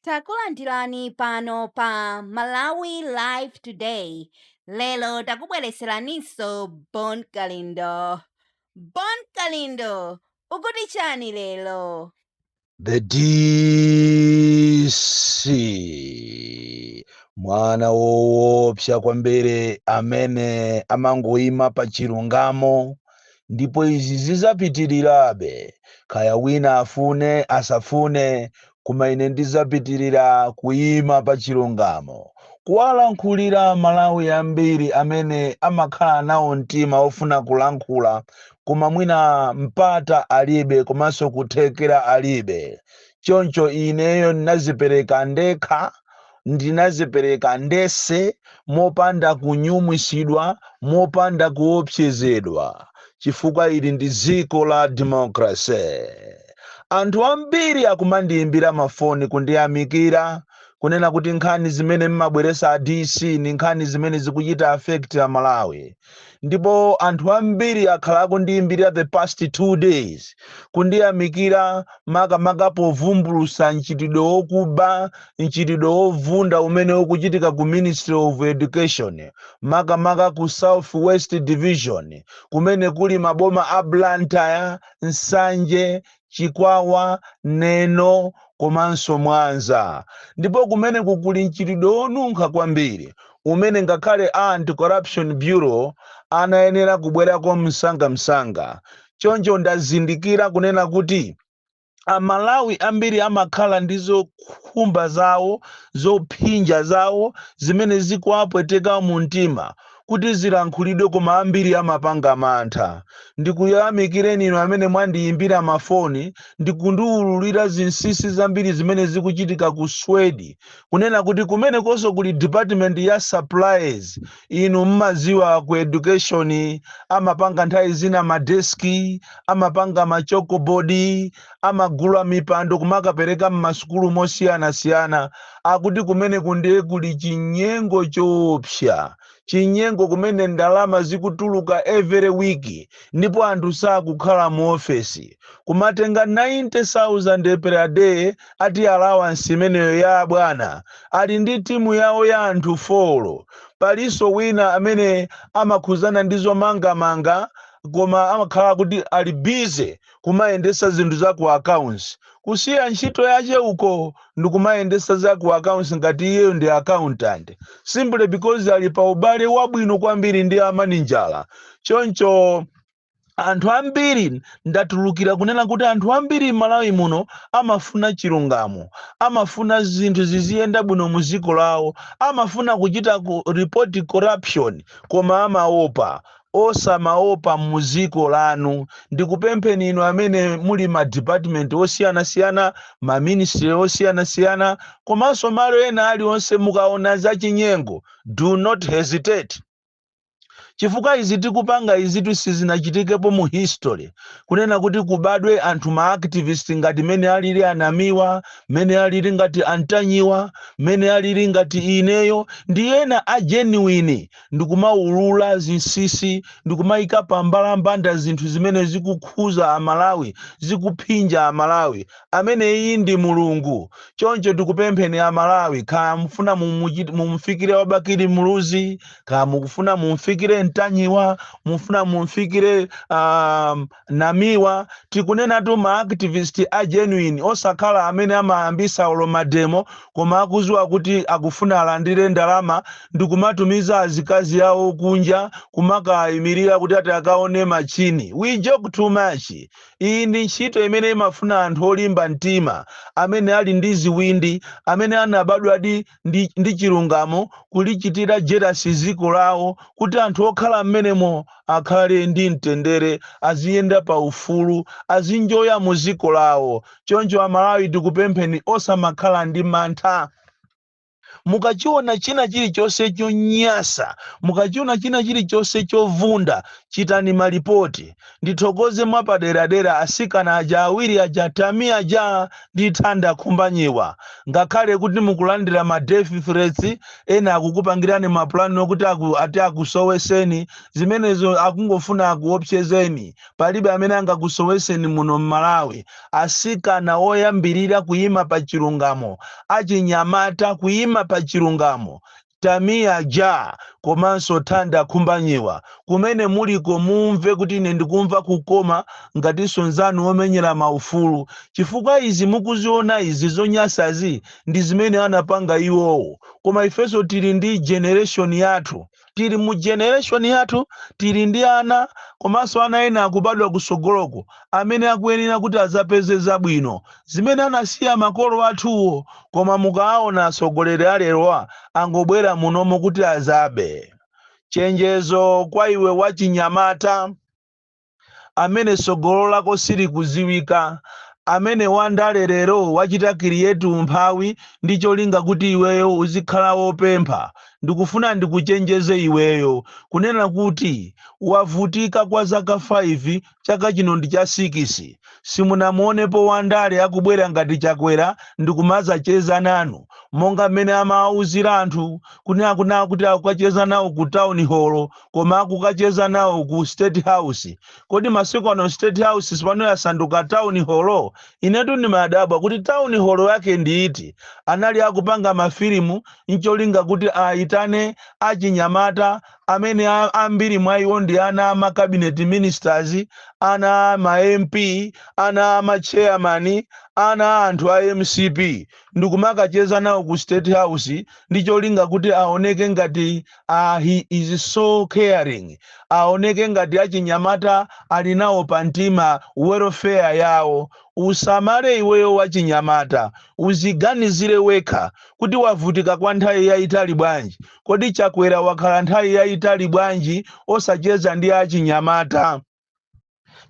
Takulandirani pano pa Malawi Live Today. Lero takubwereseraninso Bon Kalindo. Bon Kalindo, ukuti chani lero? The DC mwana woopsa kwambiri amene amangoima pa chilungamo ndipo izi zizapitirirabe kaya wina afune asafune koma ine ndizapitirira kuyima pa chilungamo kuwalankhulira amalawi ambiri amene amakhala nawo mtima ofuna kulankhula koma mwina mpata alibe komanso kuthekera alibe choncho ineyo ndinazipereka ndekha ndinazipereka ndese mopanda kunyumwisidwa mopanda kuopsezedwa chifukwa ili ndi dziko la democracy anthu ambiri akumandiyimbira mafoni kundiyamikira kunena kuti nkhani zimene mmabweresa a dc ndi nkhani zimene zikuchita affect amalawi ndipo anthu ambiri akhala akundiyimbira the past two days kundiyamikira makamaka povumbulusa mchitidwe wokuba mchitidwe wovunda umene ukuchitika ku ministry of education makamaka ku south west division kumene kuli maboma a blantyre nsanje Chikwawa, Neno komanso Mwanza ndipo kumeneku kuli mchitidwe wonunkha kwambiri umene ngakhale a Anti-Corruption Bureau anayenera kubwerako msangamsanga. Choncho ndazindikira kunena kuti Amalawi ambiri amakhala ndi zokhumba zawo, zophinja zawo zimene zikuwapweteka mumtima. kuti zilankhulidwe koma ambiri amapanga mantha. Ndikuyamikireni inu amene mwandiyimbira mafoni ndi kundiwululira zinsinsi zambiri zimene zikuchitika ku SWED. Kunena kuti kumenekonso kuli department ya supplies. Inu mmaziwa ku education amapanga nthawi zina madesiki, amapanga machokobodi. amagula mipando kumakapereka m'masukulu mosiyanasiyana akuti kumeneku ndiye kuli chinyengo choopsa chinyengo kumene ndalama zikutuluka every week ndipo anthu sakukhala mu ofesi kumatenga 90000 per day ati allowance imeneyo ya abwana ali ndi timu yawo ya anthu folo palinso wina amene amakhuzana ndi zomangamanga koma amakhala kuti ali busy kumayendesa zinthu za ku accounts kusiya ntchito yache uko ndikumayendesa za ku accounts ngati iyeyo ndi accountant simply because ali pa ubale wabwino kwambiri ndi a maninjala choncho anthu ambiri ndatulukira kunena kuti anthu ambiri m'malawi muno amafuna chilungamo amafuna zinthu ziziyenda bwino mu dziko lawo amafuna kuchita ku report corruption koma amaopa osamaopa mu ziko lanu ndikupempheni inu amene muli ma department osiyanasiyana ma ministry osiyanasiyana komanso malo ena alionse mukaona zachinyengo do not hesitate chifukwa izi tikupanga izitu sizinachitikepo mu history kunena kuti kubadwe anthu ma activist ngati mene alili a Namiwa mene alili ngati a Ntanyiwa mene alili ngati ineyo ndi ena a genuine ndikumaulula zinsinsi ndikumayika pa mbalambanda zinthu zimene zikukhuza a Malawi, zikuphinja a Malawi. Ameneyi ndi Mulungu. Choncho tikupempheni a Malawi kaya mufuna mumufikire wa Bakili Muluzi, kaya mukufuna mumfikire Ntanyiwa, mufuna mumfikire a. Namiwa, tikunenatu ma activist a genuine osakhala amene amayambisa olo mademo koma akuziwa kuti akufuna alandire ndalama ndikumatumiza azikazi awo kunja kumakaaimilira kuti ati akaone machine. We joke too much. Iyi ndi ntchito imene imafuna anthu olimba mtima amene ali ndi ziwindi amene anabadwadi ndi, ndi chilungamo kulichitira jerasi dziko lawo kuti anthu okhala mmenemo akhale ndi mtendere aziyenda pa ufulu azinjoya mu dziko lawo choncho amalawi tikupempheni osamakhala ndi mantha mukachiona china chilichonse chonyasa mukachiona china chilichonse chovunda chitani malipoti Ndithokoze mwapaderadera atsikana aja awiri aja Tamia Ja ndi Thanda Khumbanyiwa. Ngakhale kuti mukulandira ma death threats, ena akukupangirani ma plan okuti aku, ati akusoweseni, zimenezo akungofuna akuwopsyezeni. Palibe amene angakusoweseni muno m'Malawi. Atsikana oyambirira kuyima pa chilungamo, achinyamata kuyima pa chilungamo. Tamia Ja komanso Thanda Khumbanyiwa. Kumene muliko mumve kuti ine ndikumva kukoma ngatinso nzanu womenyera ma ufulu. Chifukwa izi mukuziona izi zonyasazi ndi zimene anapanga iwowo. Koma ifenso tili ndi generation yathu. Tili mu generation yathu tili ndi ana komanso ana ena akubadwa kusogoloko. amene akuyenera kuti adzapeze zabwino zimene anasiya makolo athuwo koma mukaawona atsogoleri alerowa angobwera munomo kuti adzabe. Chenjezo kwa iwe wachinyamata amene tsogolo lako silikudziwika, amene wandale lero wachita kirieti umphawi ndi cholinga kuti iweyo uzikhala wopempha, ndikufuna ndikuchenjeze iweyo kunena kuti wavutika kwa zaka 5 chaka chino ndi cha sikisi, simunamuonepo wandale akubwera ngati Chakwera ndikumazacheza nanu monga mmene amawauzira anthu kunena kunaa kuti akukacheza nawo ku town hall koma akukacheza nawo ku state house. Kodi masiku ano state house sipano yasanduka town hall? Inetu ndimadabwa kuti town hall yake ndi iti? Anali akupanga mafilimu ncholinga kuti aitane achinyamata amene a, ambiri mwa iwo ndi ana a ma cabinet ministers, ana a ma MP, ana a ma chairman, ana a anthu a mcp, ndikumakacheza nawo ku state house ndi cholinga kuti aoneke ngati a, he is so caring, aoneke ngati achinyamata ali nawo pa mtima welfare yawo. Usamale iweyo wachinyamata, uziganizire wekha kuti wavutika kwa nthawi yaitali bwanji. Kodi Chakwera wakhala nthawi yayitali bwanji osacheza ndi achinyamata?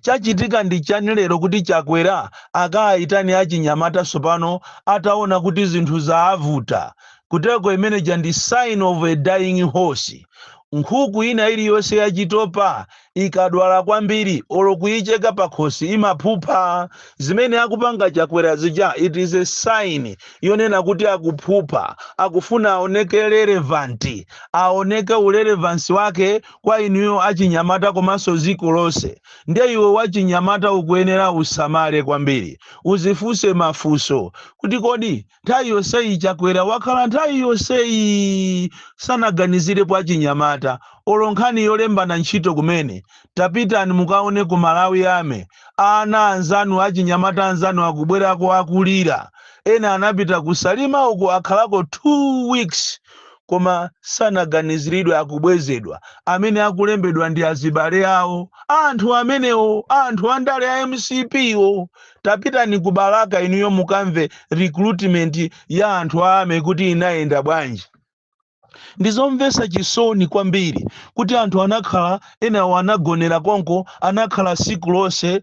Chachitika ndi chani lero kuti Chakwera akaayitane achinyamata tsopano ataona kuti zinthu zaavuta? Kuteko imeneja ndi sign of a dying horse. Nkhuku ina iliyonse yachitopa ikadwala kwambiri olo kuicheka pakhosi imaphupha zimene akupanga chakwera zija it is a sign yonena kuti akuphupha akufuna aoneke relevant aoneke urelevansi wake kwa inuyo achinyamata komanso ziko lonse ndiye iwe wachinyamata ukuyenera usamale kwambiri uzifunse mafunso kuti kodi Nthawi yonseyi Chakwera wakhala nthawi yonseyi sanaganizirepo achinyamata olo nkhani yolembana ntchito kumene, tapitani mukaone ku Malawi Army, ana anzanu achinyamata anzanu akubwerako akulira, ena anapita ku Salima uko akhalako 2 weeks koma sanaganiziridwe akubwezedwa, amene akulembedwa ndi azibale awo a anthu amenewo a anthu andale a mcp wo, tapitani ku balaka inuyo mukamve recruitment ya anthu a army kuti inayenda bwanji ndizomvesa chisoni kwambiri kuti anthu anakhala enawo anagonera konko anakhala siku lonse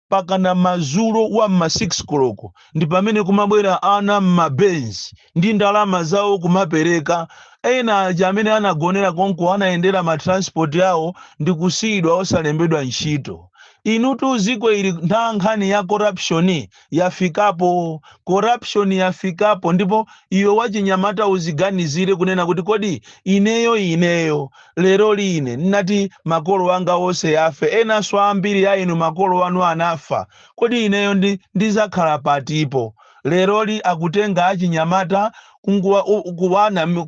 pakana mazulo wa mma 6 koloko ndi pamene kumabwera ana mmabenzi ndi ndalama zawo kumapereka ena aja amene anagonera konko anayendera matransport awo ndi kusiyidwa osalembedwa ntchito Inutu ziko ili ntha nkhani ya corruption yafikapo. Corruption yafikapo ndipo iwe wachinyamata uziganizire kunena kuti kodi ineyo ineyo leroli ine nditati makolo anga onse afe enanso ambiri a inu makolo anu anafa kodi ineyo ndizakhala patipo leroli akutenga achinyamata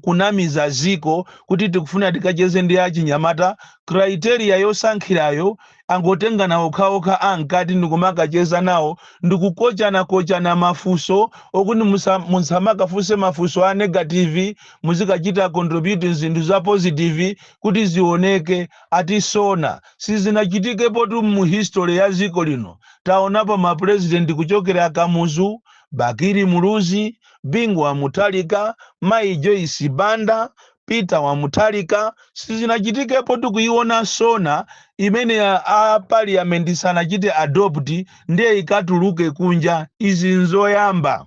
kunamiza ziko kuti tikufuna tikacheze ndi achinyamata criteria yosankhirayo angotengana okhaokha a mkati ndikumakacheza nawo ndikukochanakochana mafunso okuti musamakafunse mafunso a negative muzikachita contribute zinthu za positive kuti zioneke ati sona sizinachitikepotu mu history ya dziko lino taonapo ma president kuchokera kamuzu bakili muluzi bingu wa mutharika mayi joyce banda Peter wa Mutharika sizinachitikepo tu kuiona sona imene a parliament sanachite adopt ndiye ikatuluke kunja izi nzoyamba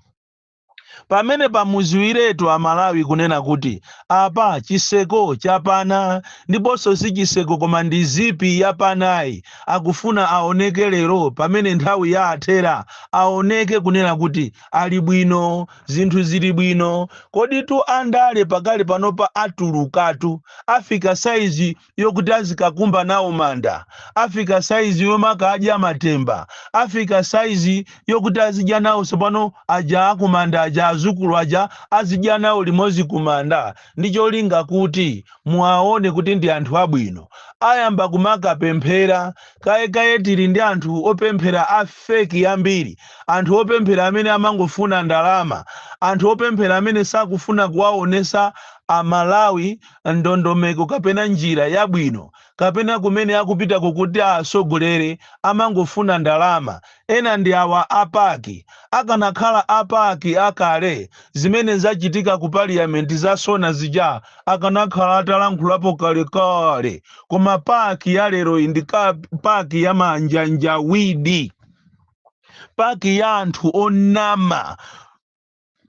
pamene pamuziwiretu amalawi kunena kuti apa chiseko chapana ndiponso si chiseko koma ndi zipi yapanayi akufuna aoneke lero pamene nthawi yawathera aoneke kunena kuti ali bwino zinthu zili bwino koditu andale pakali panopa atulukatu afika saizi yokuti azikakumba nawo manda afika saizi yomakadya matemba afika saizi yokuti azidya nawo tsopano aja akumanda aja azukulu aja azidya nawo limodzi kumanda ndi cholinga kuti muwaone kuti ndi anthu abwino ayamba kumakapemphera Kaye kaye tili ndi anthu opemphera a fake ambiri, anthu opemphera amene amangofuna ndalama, anthu opemphera amene sakufuna kuwaonesa a Malawi ndondomeko kapena njira yabwino kapena kumene akupitako kuti awasogolere, amangofuna ndalama Ena ndi awa a pac. Akanakhala a pac akale, zimene zachitika ku parliament za sona zija akanakhala atalankhulapo kalekale. Koma pac ya leroyi ndi pac ya manjanjawidi. Pac ya anthu onama.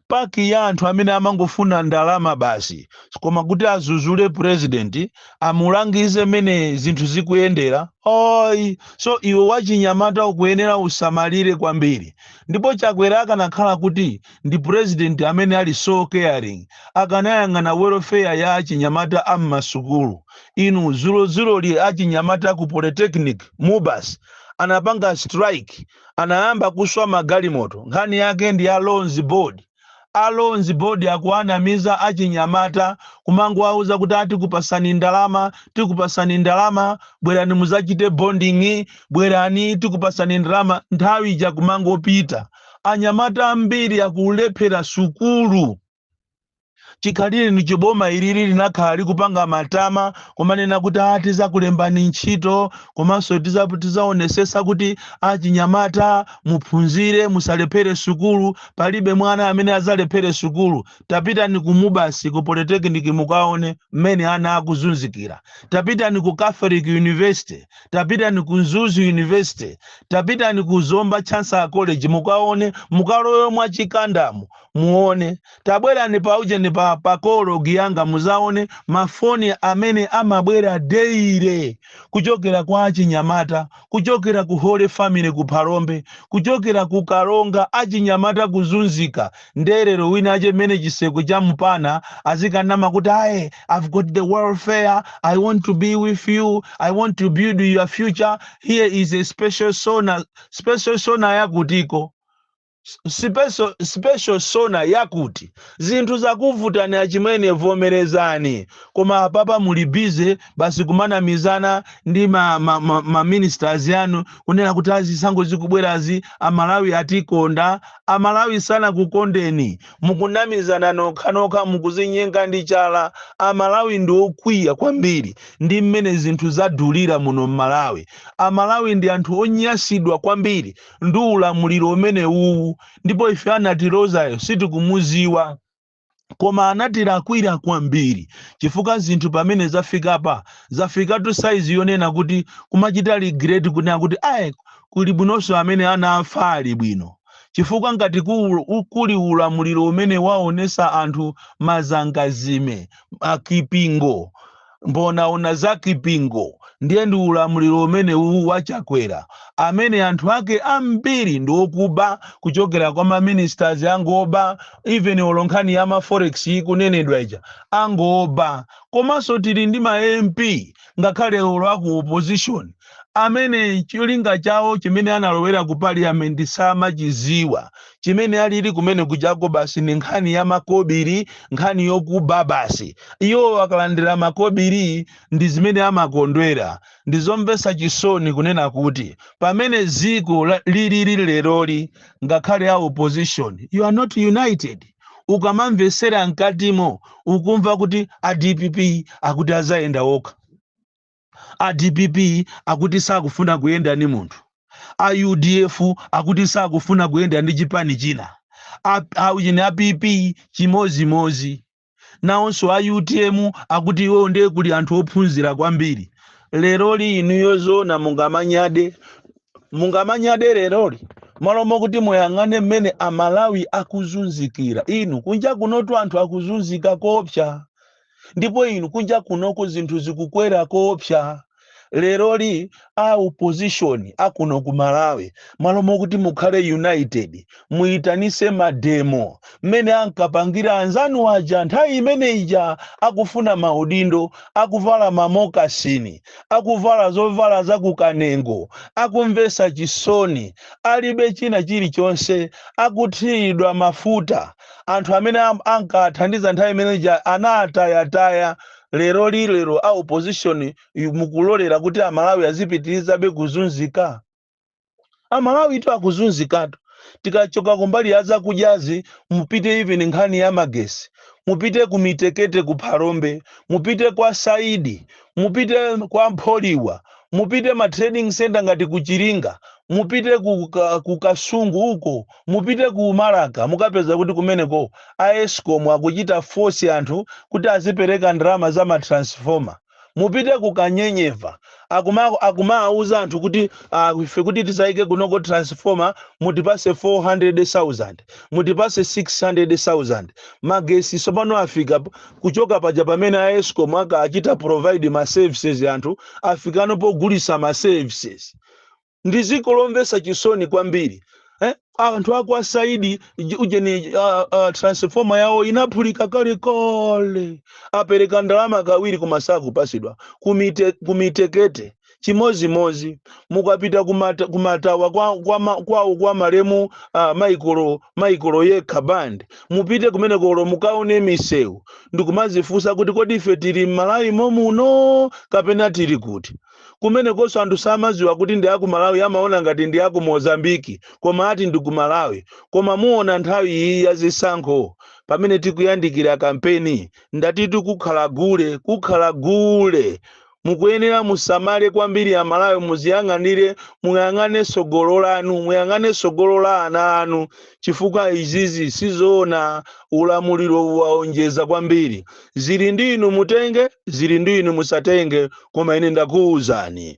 Pac ya anthu amene amangofuna ndalama basi koma kuti azuzule president amulangize mene zinthu zikuyendera oyi so iwe wachinyamata ukuyenera usamalire kwambiri ndipo chakwera akanakhala kuti ndi president amene ali so caring akanayang'ana welfare ya achinyamata a m'masukulu inu zulozuloli achinyamata ku polytechnic mubas anapanga strike anayamba kuswa magalimoto nkhani yake ndi a loans board a loans board akuwanamiza achinyamata kumangowauza kuti atikupasani ndalama tikupasani ndalama bwerani muzachite bonding bwerani tikupasani ndalama nthawi ija kumangopita anyamata ambiri akulephera sukulu chikhalireni chiboma irili linakhala likupanga matama kumanena kuti a tizakulembani ntchito komanso tiza- tizaonesesa kuti achinyamata muphunzire musalephere sukulu palibe mwana amene azalephere sukulu tapitani ku MUBAS ku polytechnic mukaone mmene ana akuzunzikira tapitani ku catholic university tapitani ku mzuzu university tapitani ku zomba chancellor college mukaone mukalowe mwa Chikandamu muone tabwerani pa ujeni pa pa call log yanga muzaone mafoni amene amabwera daily kuchokera kwa achinyamata kuchokera ku holy family ku phalombe kuchokera ku Karonga achinyamata kuzunzika ndiye lero wina aje mmene chisekwe cha mpana azikanama kuti aye i've got the welfare i want to be with you i want to build your future here is a special sona special sona yakutiko special, special sona yakuti zinthu zakuvutani achimwene vomerezani koma apapa muli busy basi kumanamizana ndi ma, ma, ma, ma ministers yanu kunena kuti a zisankho zikubwerazi amalawi atikonda amalawi sanakukondeni mukunamizana nokhanokha mukuzinyenga ndi chala amalawi ndi okwiya kwambiri ndi mmene zinthu zadulira muno m'Malawi amalawi ndi anthu onyasidwa kwambiri ndi ulamuliro umene uwu ndipo ife anatilozayo sitikumuziwa koma anatilakwira kwambiri chifukwa zinthu pamene zafikapa zafikatu saizi yonena kuti kumachita regret kunena kuti ayi kuli bwinoso amene anafa ali bwino chifukwa ngati ku- u- kuli ulamuliro umene waonesa anthu mazangazime akipingo Mbonaona za Kipingo ndiye ndi ulamuliro umene uwu wa Chakwera amene anthu ake ambiri ndi okuba kuchokera kwa ma ministers angoba even olo nkhani ya ma forex ikunenedwa ija angoba komanso tili ndi ma MP ngakhale olo aku opposition amene cholinga chawo chimene analowera ku parliament samachiziwa chimene alili kumene kujako basi ni nkhani ya makobili nkhani yokuba basi iwo akalandira makobili ndi zimene amakondwera ndizomvesa chisoni kunena kuti pamene ziko la- lilili leroli ngakhale a opposition you are not united ukamamvesera mkatimo ukumva kuti a dpp akuti azayenda okha A dpp akuti sakufuna kuyenda ndi munthu. A udf akuti sakufuna kuyenda ndi chipani china. A, a, ujeni, a PP chimodzimodzi. Nawonso a utm akuti iwowo ndiye kuli anthu ophunzira kwambiri. Leroli inuyo zoona mungamanyade? Mungamanyade leroli? Malo mokuti muyang'ane mmene Amalawi akuzunzikira. Inu, kunja kunotu anthu akuzunzika koopsa. ndipo inu kunja kunoko zinthu zikukwera koopsa leroli a opposition akuno ku malawi malo mokuti mukhale united muyitanise mademo mmene ankapangira anzanu aja nthawi imene ija akufuna maudindo akuvala mamokasini akuvala zovala za kukanengo akumvesa chisoni alibe china chilichonse akuthiridwa mafuta anthu amene am- ankathandiza nthawi imene ija anatayataya leroli lero a opposition yu- mukulolera kuti amalawi azipitirizabe kuzunzika amalawitu akuzunzikatu tikachoka kumbali ya zakudyazi mupite even nkhani ya magesi mupite ku mitekete ku phalombe mupite kwa saidi mupite kwa Mpholiwa, mupite ma trading centre ngati ku Chiringa, mupite ku, ka, ku Kasungu uko, mupite ku Malaka, mukapeza kuti kumeneko a Escom akuchita force anthu kuti azipereka ndalama za ma transformer. Mupite ku Kanyenyeva, akuma akumawauza anthu kuti ah, ife kuti tizaike kunoko transformer mutipase 400,000, mutipase 600,000. Magesi tsopano afika Kuchoka paja pamene a escom aka achita provide ma services anthu afikano pogulisa ma services. Ndi dziko lomvesa chisoni kwambiri eh? Anthu akwa saidi ujeni uh, uh, transformer yawo inaphulika kale kale apereka ndalama kawiri koma sakupasidwa kumite, kumitekete chimozimozi mukapita kumata, kumatawa kwa, kwa, ma, kwawo kwa malemu uh, maikolo maikolo yekha band mupite kumenekolo mukaone misewu ndikumazifunsa kuti kodi ife tili mmalawi momuno kapena tili kuti kumenekonso anthu samaziwa kuti ndi aku malawi amaona ngati ndi aku mozambiki koma ati ndi ku malawi koma muona nthawi iyi ya zisankho pamene tikuyandikira kampeni ndatitu kukhala gule kukhala gule mukuyenera musamale kwambiri amalawi muziyang'anire muyang'ane tsogolo lanu muyang'ane tsogolo la ana anu chifukwa izizi sizoona ulamuliro waonjeza kwambiri zili ndi inu mutenge zili ndi inu musatenge koma ine ndakuwuzani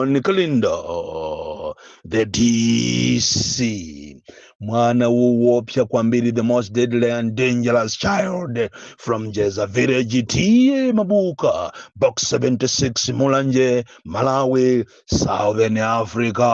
bon kalindo the dc mwana wowopsa kwambiri the most deadly and dangerous child from jeza village tiye mabuka box 76 mulanje malawi southern africa